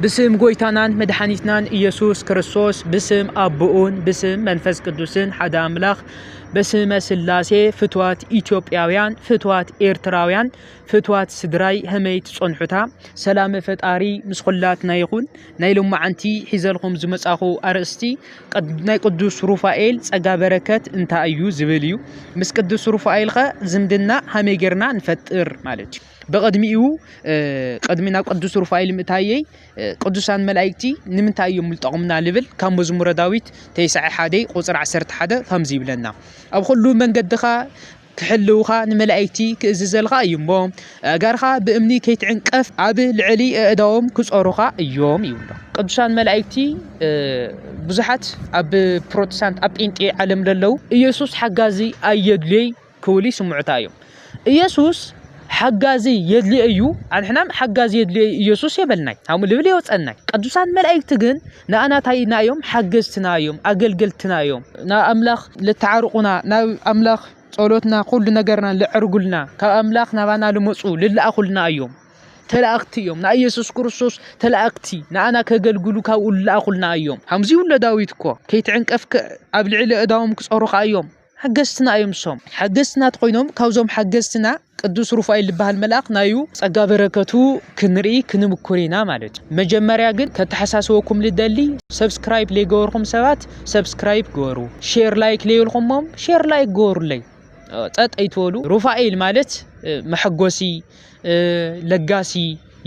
ብስም ጎይታናን መድሓኒትናን ኢየሱስ ክርስቶስ ብስም ኣቦኡን ብስም መንፈስ ቅዱስን ሓደ ኣምላኽ በስመ ስላሴ ፍትዋት ኢትዮጵያውያን ፍትዋት ኤርትራውያን ፍትዋት ስድራይ ህመይ ትጸንሑታ ሰላመ ፈጣሪ ምስ ኹላትና ይኹን ናይ ሎማዓንቲ ሒዘልኹም ዝመጻኹ ኣርእስቲ ናይ ቅዱስ ሩፋኤል ጸጋ በረከት እንታይ እዩ ዝብል እዩ ምስ ቅዱስ ሩፋኤልኸ ዝምድና ሃመይ ጌርና ንፈጥር ማለት እዩ ብቕድሚኡ ቅድሚ ናብ ቅዱስ ሩፋኤል ምእታየይ ቅዱሳን መላእክቲ ንምንታይ እዮም ልጠቕሙና ልብል ካብ መዝሙረ ዳዊት ተስዓ ሓደ ቁፅሪ ዓሰርተ ሓደ ከምዚ ይብለና ኣብ ኩሉ መንገድኻ ክሕልውኻ ንመላእክቲ ክእዝዘልኻ እዩ እሞ ኣእጋርኻ ብእምኒ ከይትዕንቀፍ ኣብ ልዕሊ ኣእዳዎም ክፀሩኻ እዮም ይብሎ ቅዱሳን መላእክቲ ብዙሓት ኣብ ፕሮቴስታንት ኣብ ጴንጤ ዓለም ለለው ኢየሱስ ሓጋዚ ኣየድልዮይ ክብሉ ይስምዑታ እዮም። ኢየሱስ ሓጋዚ የድልዮ እዩ ኣንሕና ሓጋዚ የድልዮ ኢየሱስ የበልናይ ከምኡ ልብል የወፀናይ ቅዱሳን መላእክቲ ግን ንኣና ታይና እዮም ሓገዝትና እዮም ኣገልገልትና እዮም ናብ ኣምላኽ ልተዓርቑና ናብ ኣምላኽ ጸሎትና ኩሉ ነገርና ልዕርጉልና ካብ ኣምላኽ ናባና ልመፁ ልለኣኹልና እዮም ተላእክቲ እዮም ናይ ኢየሱስ ክርስቶስ ተላእክቲ ንኣና ከገልግሉ ካብኡ ልለኣኹልና እዮም ከምዚ ይብሎ ዳዊት እኮ ከይትዕንቀፍ ኣብ ልዕሊ እዳዎም ክፀሩኻ እዮም ሓገዝትና እዮም ንሶም ሓገዝትና ተኾይኖም ካብዞም ሓገዝትና ቅዱስ ሩፋኤል ዝበሃል መልኣኽ ናዩ ጸጋ በረከቱ ክንርኢ ክንምኩር ኢና ማለት እዩ መጀመርያ ግን ከተሓሳስበኩም ልደሊ ሰብስክራይብ ለይገበርኩም ሰባት ሰብስክራይብ ገበሩ ሼር ላይክ ለይልኩሞም ሼር ላይክ ገበሩለይ ጸጥ ኣይትበሉ ሩፋኤል ማለት መሐጎሲ ለጋሲ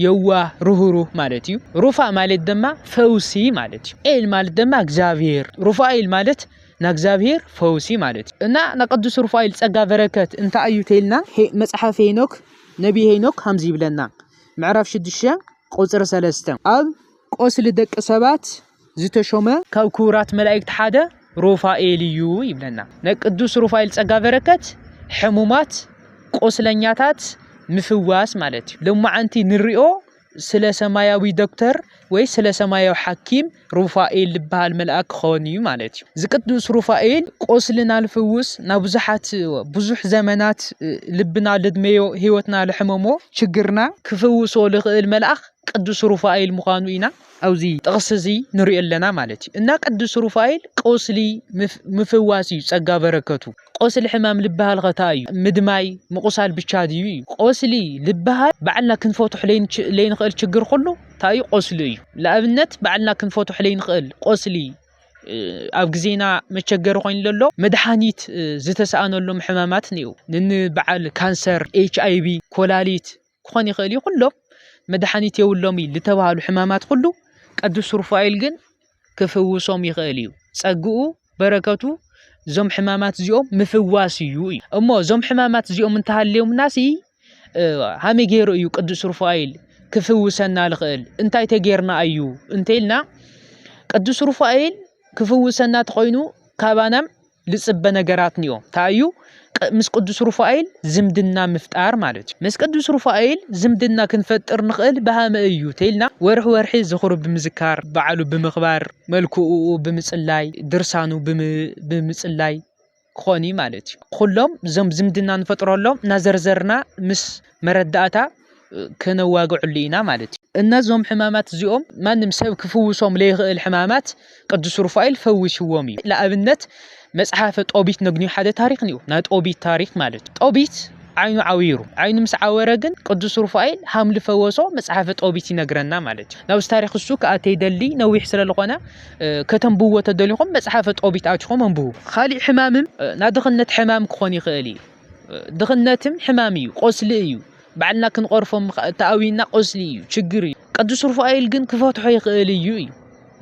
የዋህ ርህሩህ ማለት እዩ ሩፋ ማለት ድማ ፈውሲ ማለት እዩ ኤል ማለት ድማ እግዚኣብሔር ሩፋኤል ማለት ናእግዚኣብሔር ፈውሲ ማለት እዩ እና ናቅዱስ ሩፋኤል ጸጋ በረከት እንታይ እዩ ተይልና መጽሓፍ ሄኖክ ነቢ ሄኖክ ከምዚ ይብለና ምዕራፍ ሽዱሽተ ቁፅሪ ሰለስተ ኣብ ቆስሊ ደቂ ሰባት ዝተሾመ ካብ ክቡራት መላእክት ሓደ ሩፋኤል እዩ ይብለና ነቅዱስ ሩፋኤል ጸጋ በረከት ሕሙማት ቆስለኛታት ምፍዋስ ማለት እዩ ሎማዓንቲ ንሪኦ ስለ ሰማያዊ ዶክተር ወይ ስለ ሰማያዊ ሓኪም ሩፋኤል ዝበሃል መልኣክ ክኸውን እዩ ማለት እዩ። እዚ ቅዱስ ሩፋኤል ቆስልና ልፍውስ ናብ ብዙሓት ብዙሕ ዘመናት ልብና ልድመዮ ህይወትና ልሕመሞ ችግርና ክፍውሶ ልኽእል መልኣኽ ቅዱስ ሩፋኤል ምዃኑ ኢና ኣብዚ ጥቕስ እዚ ንሪኦ ኣለና ማለት እዩ እና ቅዱስ ሩፋኤል ቆስሊ ምፍዋስ እዩ ጸጋ በረከቱ። ቆስሊ ሕማም ልብሃል ከ ታይ እዩ ምድማይ ምቁሳል ብቻ ድዩ እዩ ቆስሊ ልብሃል ባዕልና ክንፈትሖ ለይንክእል ችግር ኩሉ ታይ እዩ ቆስሊ እዩ ልኣብነት ባዕልና ክንፈትሖ ለይንክእል ቆስሊ ኣብ ግዜና መቸገሪ ኮይኑ ለሎ መድሓኒት ዝተሰኣነሎም ሕማማት ኒኡ ንኒ በዓል ካንሰር ኤች ኣይቪ ኮላሊት ክኾን ይኽእል እዩ ኩሎም መድሓኒት የብሎም እዩ ዝተባህሉ ሕማማት ኩሉ ቅዱስ ሩፋኤል ግን ክፍውሶም ይኽእል እዩ ጸግኡ በረከቱ እዞም ሕማማት እዚኦም ምፍዋስ እዩ እዩ እሞ እዞም ሕማማት እዚኦም እንተሃልዮምና ሲ ሃመይ ገይሩ እዩ ቅዱስ ሩፋኤል ክፍውሰና ዝኽእል እንታይ ተጌርና እዩ እንተኢልና ቅዱስ ሩፋኤል ክፍውሰና ተኾይኑ ካባናም ልጽበ ነገራትንዮ እንታይ እዩ ምስ ቅዱስ ሩፋኤል ዝምድና ምፍጣር ማለት እዩ ምስ ቅዱስ ሩፋኤል ዝምድና ክንፈጥር ንኽእል ብሃመ እዩ ተይልና ወርሒ ወርሒ ዝኽሩ ብምዝካር በዓሉ ብምኽባር መልክኡ ብምጽላይ ድርሳኑ ብምጽላይ ክኾን ማለት እዩ ኩሎም እዞም ዝምድና ንፈጥረሎም እናዘርዘርና ምስ መረዳእታ ከነዋግዐሉ ኢና ማለት እዩ። እነዞም ሕማማት እዚኦም ማንም ሰብ ክፍውሶም ለይኽእል ሕማማት ቅዱስ ሩፋኤል ፈዊሽዎም እዩ። ንኣብነት መጽሓፈ ጦቢት ነግንዮ ሓደ ታሪክ እዩ ናይ ጦቢት ታሪክ ማለት እዩ። ጦቢት ዓይኑ ዓዊሩ ዓይኑ ምስ ዓወረ ግን ቅዱስ ሩፋኤል ሃምሊ ፈወሶ መጽሓፈ ጦቢት ይነግረና ማለት እዩ። ናብዚ ታሪክ እሱ ክኣተ ይደሊ ነዊሕ ስለ ዝኾነ ከተንብዎ ተደሊኹም መጽሓፈ ጦቢት ኣትኹም ኣንብቡ። ካሊእ ሕማምም ናድኽነት ሕማም ክኾን ይኽእል እዩ። ድኽነትም ሕማም እዩ ቆስሊ እዩ ባዕልና ክንቐርፎ ተኣዊና ቆስሊ እዩ ችግር እዩ ቅዱስ ሩፋኤል ግን ክፈትሖ ይኽእል እዩ እዩ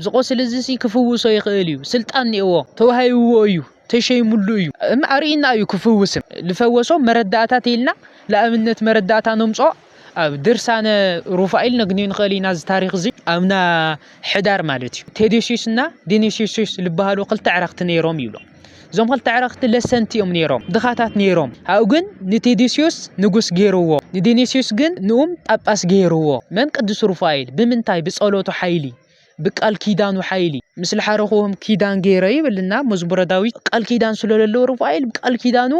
ዝቆስሊ እዚ ሲ ክፍውሶ ይኽእል እዩ ስልጣን ኔዎ ተዋሂብዎ እዩ ተሸይሙሉ እዩ እም ኣርእና እዩ ክፍውስም ልፈወሶ መረዳእታ ተይልና ለኣብነት መረዳእታ ነምጾ ኣብ ድርሳነ ሩፋኤል ነግንዮ ንኽእል ኢና እዚ ታሪክ እዚ ኣብና ሕዳር ማለት እዩ ቴዴሲስ እና ዲኒሲሲስ ዝበሃሉ ክልተ ዕረክቲ ነይሮም ይብሎ እዞም ክልተ ዕረክቲ ለሰንቲ እዮም ነይሮም ድኻታት ነይሮም ኣብኡ ግን ንቴዴሲዮስ ንጉስ ገይርዎ ንዲኒሲዮስ ግን ንኡም ጳጳስ ገይርዎ መን ቅዱስ ሩፋኤል ብምንታይ ብፀሎቱ ሓይሊ ብቃል ኪዳኑ ሓይሊ ምስ ልሓረኹዎም ኪዳን ገይረ ይብልና መዝሙረ ዳዊት ቃል ኪዳን ስለለለዎ ሩፋኤል ብቃል ኪዳኑ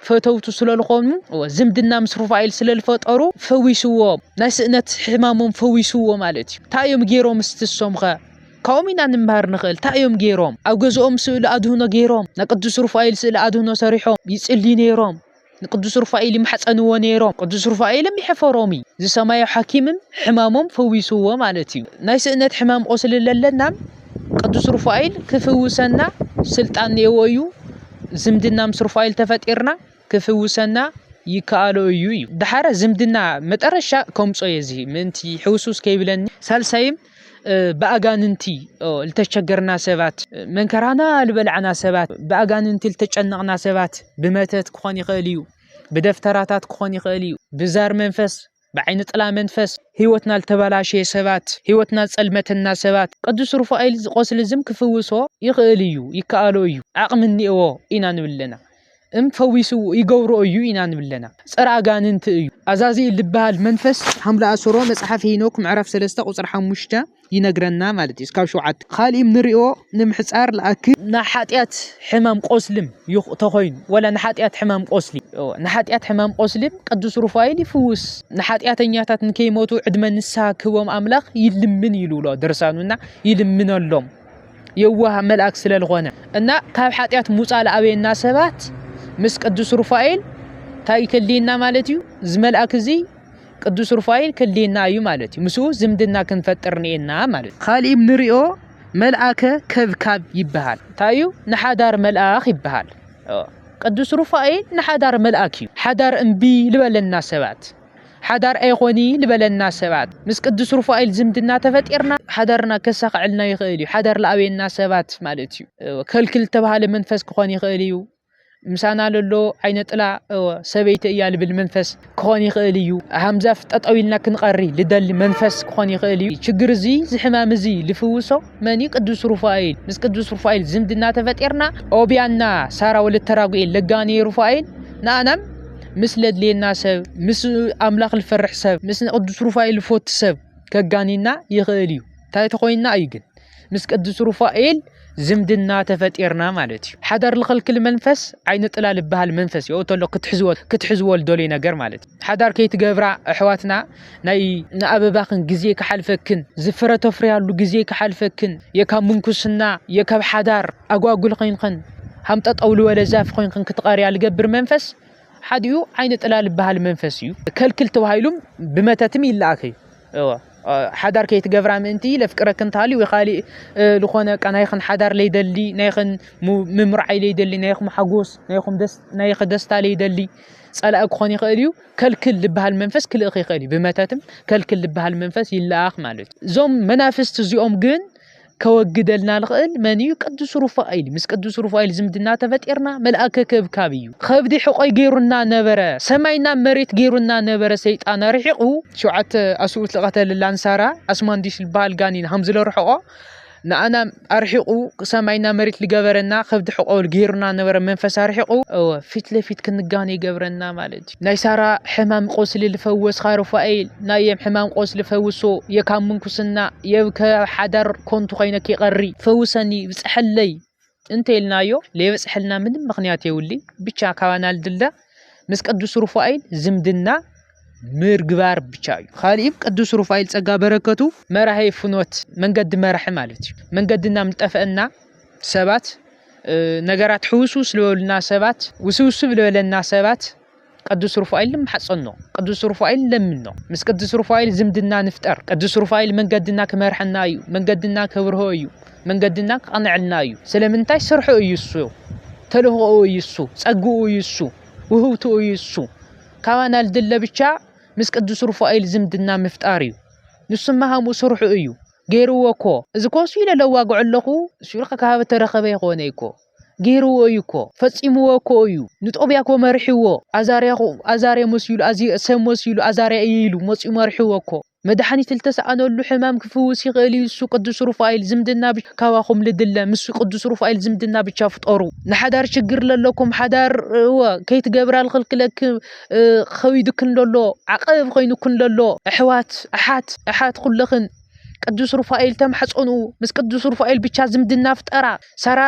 ፈተውቱ ስለልኾኑ ዝምድና ምስ ሩፋኤል ስለልፈጠሩ ፈዊስዎ ናይ ስእነት ሕማሞም ፈዊስዎ ማለት እዩ እንታይ እዮም ገይሮም ስትሶምኸ ካብኦም ኢና ንምሃር ንኽእል እንታይ እዮም ገይሮም ኣብ ገዝኦም ስእሊ ኣድህኖ ገይሮም ናይ ቅዱስ ሩፋኤል ስእሊ ኣድህኖ ሰሪሖም ይፅልዩ ነይሮም ንቅዱስ ሩፋኤል ይማሕጸንዎ ነይሮም። ቅዱስ ሩፋኤልም ይሕፈሮምይ ዝሰማዩ ሓኪምም ሕማሞም ፈዊስዎ ማለት እዩ። ናይ ስእነት ሕማም ቁስሊ ለለናም ቅዱስ ሩፋኤል ክፍውሰና ስልጣን ነይዎ እዩ። ዝምድና ምስ ሩፋኤል ተፈጢርና ክፍውሰና ይከኣሎ እዩ እዩ። ደሓረ ዝምድና መጠረሻ ከምጾ እየ እዚ ምእንቲ ሕውስውስ ከይብለኒ። ሳልሳይም ብኣጋንንቲ ልተቸገርና ሰባት መንከራና ልበልዓና ሰባት ብኣጋንንቲ ልተጨነቕና ሰባት ብመተት ክኾን ይኽእል እዩ ብደፍተራታት ክኾን ይኽእል እዩ ብዛር መንፈስ ብዓይኒ ጥላ መንፈስ ህይወትና ልተበላሸየ ሰባት ህይወትና ጸልመተና ሰባት ቅዱስ ሩፋኤል ዝቆስሊ ዝም ክፍውሶ ይኽእል እዩ ይከኣሎ እዩ ዓቕሚ እኒኤዎ ኢና ንብል ኣለና እም ፈዊሱ ይገብሮ እዩ ኢና ንብለና ፀረ ኣጋንንቲ እዩ። ኣዛዚእል ዝበሃል መንፈስ ሓምለ ኣሰሮ መፅሓፍ ሄኖክ ምዕራፍ ሰለስተ ቁፅሪ ሓሙሽተ ይነግረና ማለት እዩ እስካብ ሸውዓተ። ካሊእ እም ንሪኦ ንምሕፃር ልኣክል። ንሓጥያት ሕማም ቆስሊም ተኾይኑ ወላ ንሓጥያት ሕማም ቆስሊ እወ ንሓጥያት ሕማም ቆስሊም ቅዱስ ሩፋኤል ይፍውስ ንሓጥያተኛታት ንከይሞቱ ዕድመ ንስሃ ክህቦም ኣምላኽ ይልምን ይልብሎ ድርሳኑ እና ይልምነሎም። የዋህ መልኣክ ስለልኾነ እና ካብ ሓጢኣት ሙፃ ለኣበየና ሰባት ምስ ቅዱስ ሩፋኤል እንታይ ክልየና ማለት እዩ እዚ መልኣክ እዚ ቅዱስ ሩፋኤል ክልየና እዩ ማለት እዩ ምስኡ ዝምድና ክንፈጥር ንኤና ማለት ካሊእ ንሪኦ መልኣከ ከብካብ ይበሃል እንታይ እዩ ንሓዳር መልኣኽ ይበሃል ቅዱስ ሩፋኤል ንሓዳር መልኣክ እዩ ሓዳር እምቢ ልበለና ሰባት ሓዳር ኣይኾኒ ልበለና ሰባት ምስ ቅዱስ ሩፋኤል ዝምድና ተፈጢርና ሓዳርና ከሳኸዐልና ይኽእል እዩ ሓዳር ልኣበየና ሰባት ማለት እዩ ከልክል ዝተባሃለ መንፈስ ክኾን ይኽእል እዩ ምሳና ለሎ ዓይነ ጥላ ሰበይቲ እያ ልብል መንፈስ ክኾን ይኽእል እዩ ሃምዛፍ ጠጠው ኢልና ክንቐሪ ልደሊ መንፈስ ክኾን ይኽእል እዩ ችግር እዚ ዝሕማም እዚ ልፍውሶ መን እዩ ቅዱስ ሩፋኤል? ምስ ቅዱስ ሩፋኤል ዝምድና ተፈጢርና ኦቢያና ሳራ ወለተ ራጉኤል ለጋኔ ሩፋኤል ንኣናም ምስ ለድልየና ሰብ ምስ ኣምላኽ ዝፈርሕ ሰብ ምስ ቅዱስ ሩፋኤል ዝፈቱ ሰብ ከጋኒና ይኽእል እዩ እንታይ ተኾይንና እዩ ግን ምስ ቅዱስ ሩፋኤል ዝምድና ተፈጢርና ማለት እዩ ሓዳር ዝኸልክል መንፈስ ዓይነ ጥላ ዝበሃል መንፈስ እዩ ተሎ ክትሕዝዎ ክትሕዝዎ ዝደልዩ ነገር ማለት እዩ ሓዳር ከይትገብራ ኣሕዋትና ናይ ንኣበባኽን ግዜ ክሓልፈክን ዝፍረ ተፍርያሉ ግዜ ክሓልፈክን የካብ ምንኩስና የካብ ሓዳር ኣጓጉል ኾይንኽን ሃም ጠጠው ልበለ ዛፍ ኾይንኽን ክትቐርያ ልገብር መንፈስ ሓዲኡ ዓይነ ጥላ ልበሃል መንፈስ እዩ ከልክል ተባሂሉም ብመተትም ይለኣክ እዩ እወ ሓዳር ከይትገብራ ምእንቲ ለፍቅረክን ተሃሊ ወይ ካሊእ ዝኾነ ቃ ናይኽን ሓዳር ለይደሊ ናይኽን ምምርዓይ ለይደሊ ናይኹም ሓጎስ ናይኹም ናይኽ ደስታ ለይደሊ ጸላኢ ክኾን ይኽእል እዩ ከልክል ልበሃል መንፈስ ክልእኽ ይኽእል እዩ ብመተትም ከልክል ልበሃል መንፈስ ይለኣኽ ማለት እዩ እዞም መናፍስቲ እዚኦም ግን ከወግደልና ልኽእል መን እዩ ቅዱስ ሩፋኤል ምስ ቅዱስ ሩፋኤል ዝምድና ተፈጢርና መልኣከ ከብካብ እዩ ከብዲ ሕቆይ ገይሩና ነበረ ሰማይና መሬት ገይሩና ነበረ ሰይጣን ኣርሒቑ ሸውዓተ ኣስኡት ዝቐተለላን ሳራ ኣስማንዲስ ዝበሃል ጋኒን ሃም ዝለርሐቆ ንኣና ኣርሒቁ ሰማይና መሬት ልገበረና ከብዲ ሕቆል ገይሩና ነበረ መንፈስ ኣርሒቁ እወ ፊት ለፊት ክንጋነ ይገብረና ማለት እዩ ናይ ሳራ ሕማም ቆስሊ ልፈወስካ ሩፋኤል ናየም ሕማም ቆስሊ ፈውሶ የካብ ምንኩስና የብ ከብ ሓዳር ኮንቱ ኮይነኪ ቀሪ ፈውሰኒ ብፀሐለይ እንተ ኢልናዮ ለይበጽሐልና ምንም ምክንያት የውሊ ብቻ ካባና ልድለ ምስ ቅዱስ ሩፋኤል ዝምድና ምርግባር ብቻ እዩ ካልእም ቅዱስ ሩፋኤል ጸጋ በረከቱ መራሄ ፍኖት መንገዲ መራሒ ማለት እዩ መንገድና ምጠፈአና ሰባት ነገራት ሕውስውስ ዝበሉና ሰባት ውስውስብ ዝበለና ሰባት ቅዱስ ሩፋኤል ንማሕጸኖ፣ ቅዱስ ሩፋኤል ንለምኖ፣ ምስ ቅዱስ ሩፋኤል ዝምድና ንፍጠር፣ ቅዱስ ሩፋኤል መንገድና ክመርሐና እዩ፣ መንገድና ከብርሆ እዩ፣ መንገድና ክቕንዐልና እዩ። ስለምንታይ ስርሑ እዩ እሱ፣ ተልእኾኡ እዩ እሱ፣ ጸግኡ እዩ እሱ፣ ውህብትኡ እዩ እሱ። ካባና ልድለ ብቻ ምስ ቅዱስ ሩፋኤል ዝምድና ምፍጣር እዩ። ንሱማ ከምኡ ስርሑ እዩ። ገይርዎ እኮ እዚ ኮሱ ኢለ ለዋግዖ ኣለኹ እሱ ኢልካ ካብ ተረኸበ ኣይኾነይ እኮ ጌርዎ እዩ እኮ ፈጺምዎ እኮ እዩ ንጦብያ እኮ መሪሕዎ ኣዛርያ ኣዛርያ መሲሉ ኣዚ ሰብ መሲሉ ኣዛርያ እየ ኢሉ መጺኡ መሪሕዎ እኮ መድሓኒት ልተሳኣነሉ ሕማም ክፍውስ ይኽእል እዩ እሱ ቅዱስ ሩፋኤል ዝምድና ብቻ ካባኹም ልድለ ምስ ቅዱስ ሩፋኤል ዝምድና ብቻ ፍጠሩ ንሓዳር ችግር ለለኩም ሓዳር እወ ከይትገብራ ልኽልክለክ ኸቢዱክን ለሎ ዓቐብ ኾይኑክን ለሎ ኣሕዋት ኣሓት ኣሓት ኹለኽን ቅዱስ ሩፋኤል ተማሕፀኑ። ምስ ቅዱስ ሩፋኤል ብቻ ዝምድና ፍጠራ። ሰራ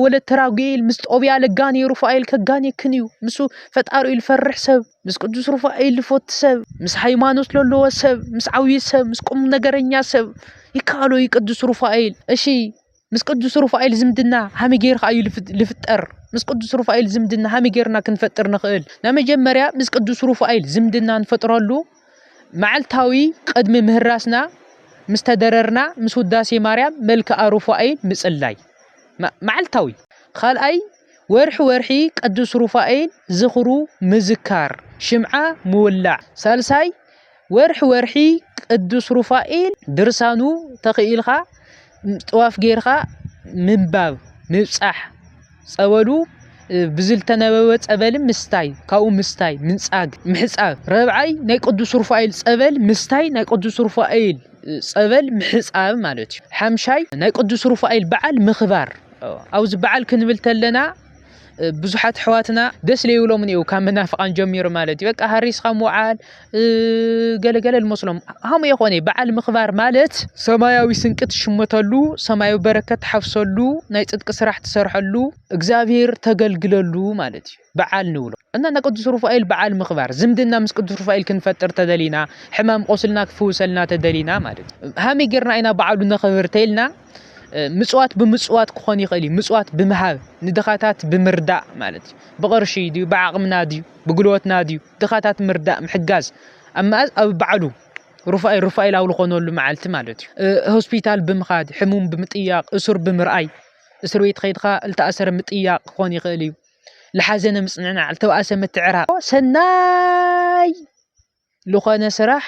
ወለተ ራጉኤል ምስ ጦብያ ለጋኒ ሩፋኤል ከጋኔክን እዩ። ምስ ፈጣሪ ልፈርሕ ሰብ፣ ምስ ቅዱስ ሩፋኤል ልፎቲ ሰብ፣ ምስ ሃይማኖት ለለዎ ሰብ፣ ምስ ዓብዪ ሰብ፣ ምስ ቁም ነገረኛ ሰብ ይከኣሎ እዩ ቅዱስ ሩፋኤል። እሺ ምስ ቅዱስ ሩፋኤል ዝምድና ሃመይ ጌርካ እዩ ልፍጠር? ምስ ቅዱስ ሩፋኤል ዝምድና ሃመይ ጌርና ክንፈጥር ንኽእል? ናይ መጀመርያ ምስ ቅዱስ ሩፋኤል ዝምድና ንፈጥረሉ መዓልታዊ ቅድሚ ምህራስና ምስ ተደረርና ምስ ውዳሴ ማርያም መልክኣ ሩፋኤል ምጽላይ መዓልታዊ። ካልኣይ ወርሒ ወርሒ ቅዱስ ሩፋኤል ዝኽሩ ምዝካር ሽምዓ ምውላዕ። ሳልሳይ ወርሒ ወርሒ ቅዱስ ሩፋኤል ድርሳኑ ተኺኢልካ ጥዋፍ ጌርካ ምንባብ ምብጻሕ ጸበሉ ብዝልተነበበ ጸበል ምስታይ ካብኡ ምስታይ ምንጻግ ምሕጻብ ረብዓይ ናይ ቅዱስ ሩፋኤል ጸበል ምስታይ ናይ ቅዱስ ሩፋኤል ጸበል ምሕጻብ ማለት እዩ ሓምሻይ ናይ ቅዱስ ሩፋኤል በዓል ምኽባር ኣብዚ በዓል ክንብል ተለና ብዙሓት ኣሕዋትና ደስ ለይብሎምን እዩ ካብ መናፍቓን ጀሚሩ ማለት እዩ በቃ ሃሪስኻ ምውዓል ገለገለ ልመስሎም ሃሙ የኾነ በዓል ምኽባር ማለት ሰማያዊ ስንቂ ትሽመተሉ ሰማያዊ በረከት ትሓፍሰሉ ናይ ፅድቂ ስራሕ ትሰርሐሉ እግዚኣብሔር ተገልግለሉ ማለት እዩ በዓል ንብሎ እና ናይ ቅዱስ ሩፋኤል በዓል ምኽባር ዝምድና ምስ ቅዱስ ሩፋኤል ክንፈጥር ተደሊና ሕማም ቆስልና ክፍውሰልና ተደሊና ማለት እዩ ሃመይ ጌርና ኢና በዓሉ ነኽብር ተይልና ምፅዋት ብምፅዋት ክኾን ይኽእል እዩ ምፅዋት ብምሃብ ንድኻታት ብምርዳእ ማለት እዩ ብቕርሺ ድዩ ብዓቕምና ድዩ ብጉልበትና ድዩ ድኻታት ምርዳእ ምሕጋዝ ኣብ መኣዝ ኣብ በዓሉ ሩፋኤል ሩፋኤል ኣብ ዝኾነሉ መዓልቲ ማለት እዩ ሆስፒታል ብምኻድ ሕሙም ብምጥያቕ እሱር ብምርኣይ እስር ቤት ኸይድካ ዝተኣሰረ ምጥያቕ ክኾን ይኽእል እዩ ልሓዘነ ምፅንናዕ ልተባእሰ ምትዕራቕ ሰናይ ልኾነ ስራሕ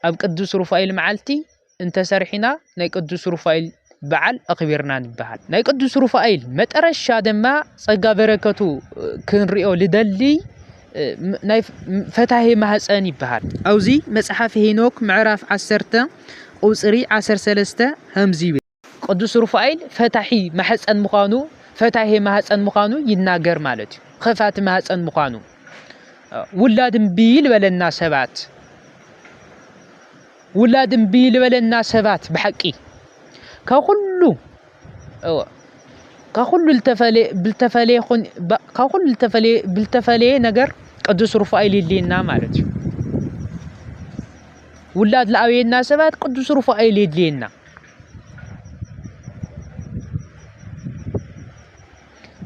ኣብ ቅዱስ ሩፋኤል መዓልቲ እንተሰርሒና ናይ ቅዱስ ሩፋኤል በዓል ኣኽቢርና ንበሃል። ናይ ቅዱስ ሩፋኤል መጠረሻ ድማ ጸጋ በረከቱ ክንሪኦ ልደሊ ናይ ፈታሄ ማህፀን ይበሃል ኣብዚ መፅሓፍ ሄኖክ ምዕራፍ ዓሰርተ ቁፅሪ ዓሰርተ ሰለስተ ከምዚ ይብል ቅዱስ ሩፋኤል ፈታሒ ማሕጸን ምዃኑ ፈታሔ ማህጸን ምዃኑ ይናገር ማለት እዩ። ኸፋቲ ማህጸን ምዃኑ ውላድ እምቢ ልበለና ሰባት ውላድ እምቢ ልበለና ሰባት ብሓቂ ካብ ኩሉ ካብ ኩሉ ብልተፈለየ ካብ ኩሉ ብልተፈለየ ነገር ቅዱስ ሩፋኤል የድልየና ማለት እዩ ውላድ ለኣብየና ሰባት ቅዱስ ሩፋኤል የድልየና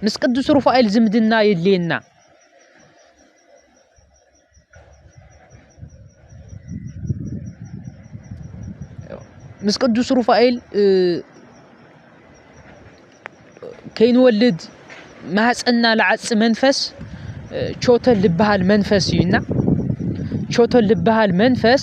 ምስ ቅዱስ ሩፋኤል ዝምድና የድልየና ምስ ቅዱስ ሩፋኤል ከይንወልድ ማህፀና ልዓፂ መንፈስ ቾተል ዝበሃል መንፈስ እዩና ቾተል ዝበሃል መንፈስ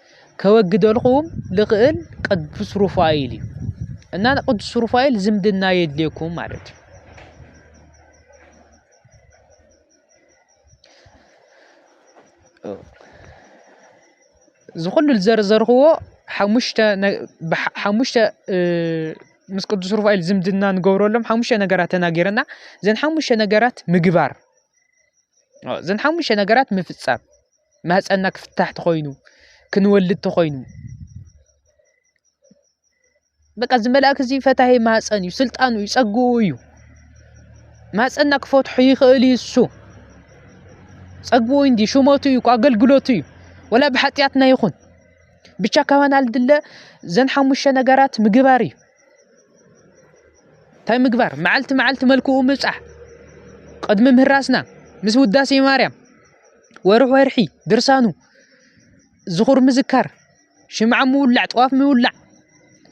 ከወግደልኹም ልኽእል ቅዱስ ሩፋኤል እዩ እና ቅዱስ ሩፋኤል ዝምድና የድልየኩም ማለት እዩ። ዝኹሉ ዝዘርዘርክዎ ሓሙሽተ ሓሙሽተ ምስ ቅዱስ ሩፋኤል ዝምድና ንገብረሎም ሓሙሽተ ነገራት ተናጊረና እዘን ሓሙሽተ ነገራት ምግባር እዘን ሓሙሽተ ነገራት ምፍፃም ማህፀንና ክፍታሕ ተኾይኑ ክንወልድ ተኾይኑ በቃ እዚ መልኣክ እዚ ፈታሂ ማህፀን እዩ ስልጣኑ እዩ ፀግኡ እዩ ማህፀንና ክፈትሖ ይኽእል እዩ እሱ ፀግኡ እንዲ ሽመቱ እዩ ኣገልግሎቱ እዩ ወላ ብሓጢኣትና ይኹን ብቻ ካባና ልድለ ዘን ሓሙሽተ ነገራት ምግባር እዩ እንታይ ምግባር መዓልቲ መዓልቲ መልክኡ ምብፃሕ ቅድሚ ምህራስና ምስ ውዳሴ ማርያም ወርሒ ወርሒ ድርሳኑ ዝኹር ምዝካር፣ ሽምዓ ምውላዕ፣ ጥዋፍ ምውላዕ፣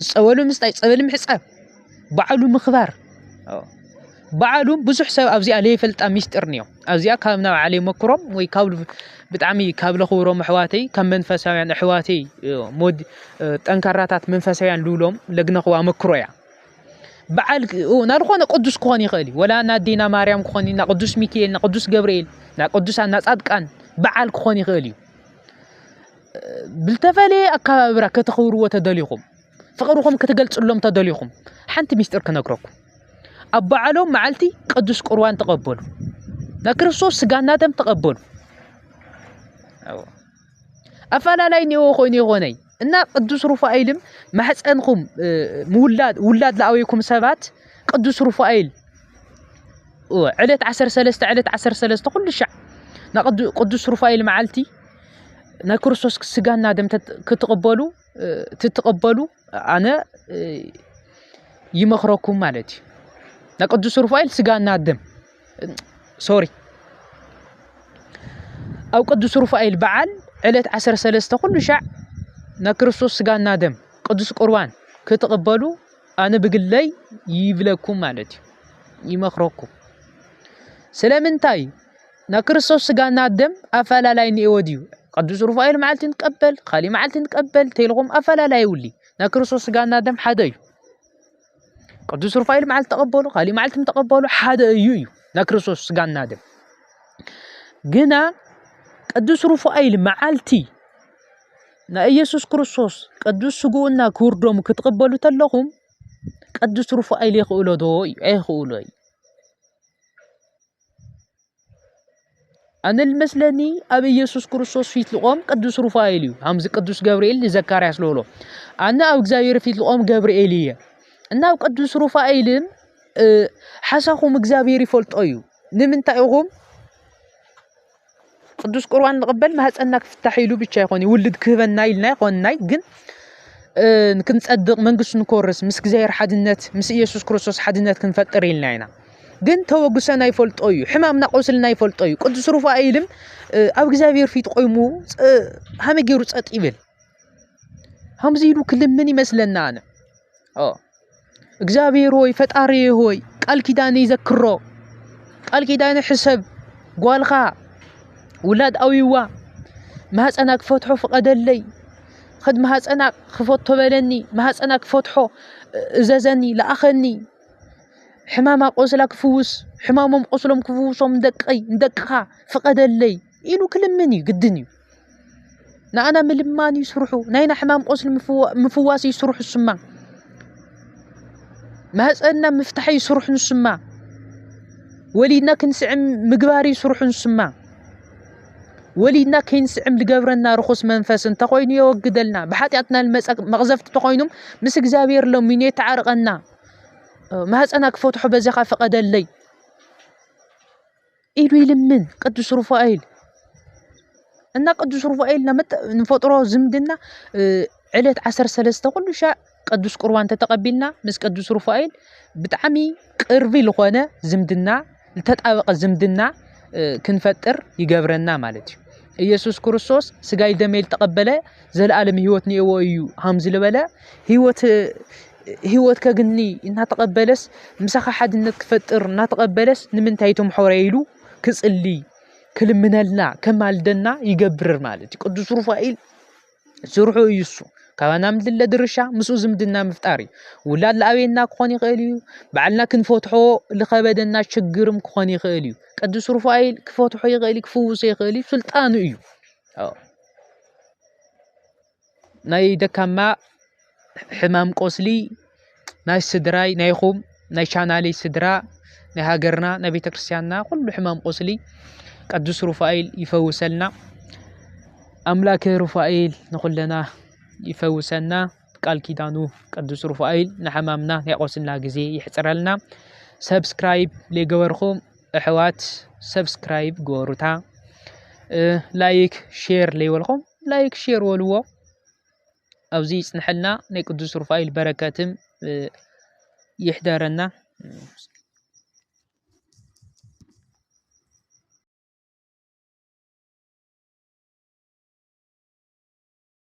ፀበሉ ምስታይ፣ ፀበል ምሕፃብ፣ በዓሉ ምኽባር በዓሉ ብዙሕ ሰብ ኣብዚኣ ለይፈልጣ ሚስጢር እኒኦ ኣብዚኣ ካብ ናብ ዓለይ መክሮም ወይ ካብ ብጣዕሚ ካብ ለኽብሮም ኣሕዋተይ ካብ መንፈሳውያን ኣሕዋተይ ጠንካራታት መንፈሳውያን ልብሎም ለግነኽዋ መክሮ እያ በዓል ናብ ዝኾነ ቅዱስ ክኾን ይኽእል እዩ ወላ ናዴና ማርያም ክኾን እዩ ናቅዱስ ሚካኤል ናቅዱስ ገብርኤል ናቅዱስ ናፃድቃን በዓል ክኾን ይኽእል እዩ ብልተፈለየ ኣካባብራ ከተኽብርዎ ተደሊኹም ፍቅርኹም ክትገልፅሎም ተደሊኹም ሓንቲ ሚስጥር ክነግረኩም ኣብ በዓሎም መዓልቲ ቅዱስ ቁርባን ተቐበሉ ናይ ክርስቶስ ስጋና ደም ተቐበሉ ኣፋላላይ እኒኦዎ ኮይኑ ይኾነይ እና ቅዱስ ሩፋኤልም ማሕፀንኹም ምውላድ ውላድ ለኣወይኩም ሰባት ቅዱስ ሩፋኤል ዕለት ዓሰር ሰለስተ ዕለት ዓሰር ሰለስተ ኩሉ ሻዕ ቅዱስ ሩፋኤል መዓልቲ ናይ ክርስቶስ ስጋና ደም ክትቕበሉ ትትቕበሉ ኣነ ይመኽረኩም ማለት እዩ ናይ ቅዱስ ሩፋኤል ስጋና ደም ሶሪ ኣብ ቅዱስ ሩፋኤል በዓል ዕለት ዓሰርተ ሰለስተ ኩሉ ሻዕ ናይ ክርስቶስ ስጋና ደም ቅዱስ ቁርባን ክትቕበሉ ኣነ ብግለይ ይብለኩም ማለት እዩ ይመኽረኩም ስለምንታይ ናይ ክርስቶስ ስጋና ደም ኣፈላላይ ንኤዎ ድዩ ቅዱስ ሩፋኤል መዓልቲ ንቀበል ካሊእ መዓልቲ ንቀበል እንተይልኹም ኣፈላላይ ይብሊ ናይ ክርስቶስ ስጋና ደም ሓደ እዩ ቅዱስ ሩፋኤል መዓልቲ ተቐበሉ ካሊእ መዓልቲ ተቐበሉ ሓደ እዩ እዩ ናይ ክርስቶስ ስጋና ደም ግና ቅዱስ ሩፋኤል መዓልቲ ናይ ኢየሱስ ክርስቶስ ቅዱስ ስግኡና ክቡር ደሙ ክትቕበሉ ተለኹም ቅዱስ ሩፋኤል የኽእሎ ዶ እዩ ኣይኽእሎ እዩ ኣነ ልመስለኒ ኣብ ኢየሱስ ክርስቶስ ፊት ልቆም ቅዱስ ሩፋኤል እዩ ከምዚ ቅዱስ ገብርኤል ንዘካርያስ ልብሎ ኣነ ኣብ እግዚኣብሔር ፊት ልቆም ገብርኤል እየ እና ኣብ ቅዱስ ሩፋኤልን ሓሳኹም እግዚኣብሔር ይፈልጦ እዩ ንምንታይ ኢኹም ቅዱስ ቁርባን ንቕበል ማህፀንና ክፍታሕ ኢሉ ብቻ ይኾን እዩ ውልድ ክህበና ኢልና ይኾንናይ ግን ክንፀድቕ መንግስቱ ንክወርስ ምስ እግዚኣብሔር ሓድነት ምስ ኢየሱስ ክርስቶስ ሓድነት ክንፈጥር ኢልና ኢና ግን ተወግሰና ይፈልጦ እዩ ሕማምና ቆስልና ይፈልጦ እዩ ቅዱስ ሩፋኤልም ኣብ እግዚኣብሔር ፊት ቆይሙ ሃመ ገይሩ ፀጥ ይብል ከምዚ ኢሉ ክልምን ይመስለና ኣነ እግዚኣብሔር ሆይ ፈጣሪ ሆይ ቃል ኪዳን ይዘክሮ ቃል ኪዳን ሕሰብ ጓልኻ ውላድ ኣውይዋ ማህፀና ክፈትሖ ፍቐደለይ ኸድ ማህፀና ክፈቶ በለኒ ማህፀና ክፈትሖ እዘዘኒ ለኣኸኒ ሕማማ ቆስላ ክፍውስ ሕማሞም ቆስሎም ክፍውሶም ንደቀይ ንደቅኻ ፍቐደለይ ኢሉ ክልምን እዩ ግድን እዩ። ንኣና ምልማን እዩ ስርሑ። ናይና ሕማም ቆስሊ ምፍዋስ እዩ ስርሑ ስማ ማህፀንና ምፍታሕ እዩ ስርሑ ንስማ ወሊድና ክንስዕም ምግባር እዩ ስርሑ ንስማ ወሊድና ከይንስዕም ዝገብረና ርኹስ መንፈስ እንተኾይኑ የወግደልና ብሓጢኣትና ልመፀ መቕዘፍቲ ተኾይኑም ምስ እግዚኣብሔር ለሚኑ የተዓርቐና ማህፀና ክፈትሖ በዚኻ ፍቐደለይ ኢሉ ይልምን ቅዱስ ሩፋኤል እና ቅዱስ ሩፋኤል ንፈጥሮ ዝምድና ዕለት ዓሰርተ ሰለስተ ኩሉ ሻዕ ቅዱስ ቁርባን ተተቐቢልና ምስ ቅዱስ ሩፋኤል ብጣዕሚ ቅርቢ ዝኾነ ዝምድና ዝተጣበቐ ዝምድና ክንፈጥር ይገብረና ማለት እዩ ኢየሱስ ክርስቶስ ስጋይ ደመይ ዝተቐበለ ዘለኣለም ህይወት ኒኤዎ እዩ ሃም ዝበለ ህይወት ህይወት ከግኒ እናተቐበለስ ምሳኻ ሓድነት ክፈጥር እናተቐበለስ ንምንታይ እቶም ሖረይ ኢሉ ክጽልይ ክልምነልና ከማልደና ይገብርር ማለት እዩ ቅዱስ ሩፋኤል ስርሑ እዩ እሱ ካባና ምድለ ድርሻ ምስኡ ዝምድና ምፍጣር እዩ ውላድ ለኣበየና ክኾን ይኽእል እዩ በዓልና ክንፈትሖ ዝኸበደና ችግርም ክኾን ይኽእል እዩ ቅዱስ ሩፋኤል ክፈትሖ ይኽእል እዩ ክፍውሶ ይኽእል እዩ ስልጣኑ እዩ ናይ ደካማ ሕማም ቆስሊ ናይ ስድራይ ናይኹም ናይ ቻናለይ ስድራ ናይ ሃገርና ናይ ቤተ ክርስቲያንና ኩሉ ሕማም ቆስሊ ቅዱስ ሩፋኤል ይፈውሰልና። ኣምላከ ሩፋኤል ንኹለና ይፈውሰና። ቃል ኪዳኑ ቅዱስ ሩፋኤል ንሕማምና ናይ ቆስልና ግዜ ይሕፅረልና። ሰብስክራይብ ዘይገበርኹም ኣሕዋት ሰብስክራይብ ግበሩታ። ላይክ ሼር ለይበልኹም ላይክ ሼር ወልዎ ኣብዚ ይጽንሐልና ናይ ቅዱስ ሩፋኤል በረከትም ይሕደረና።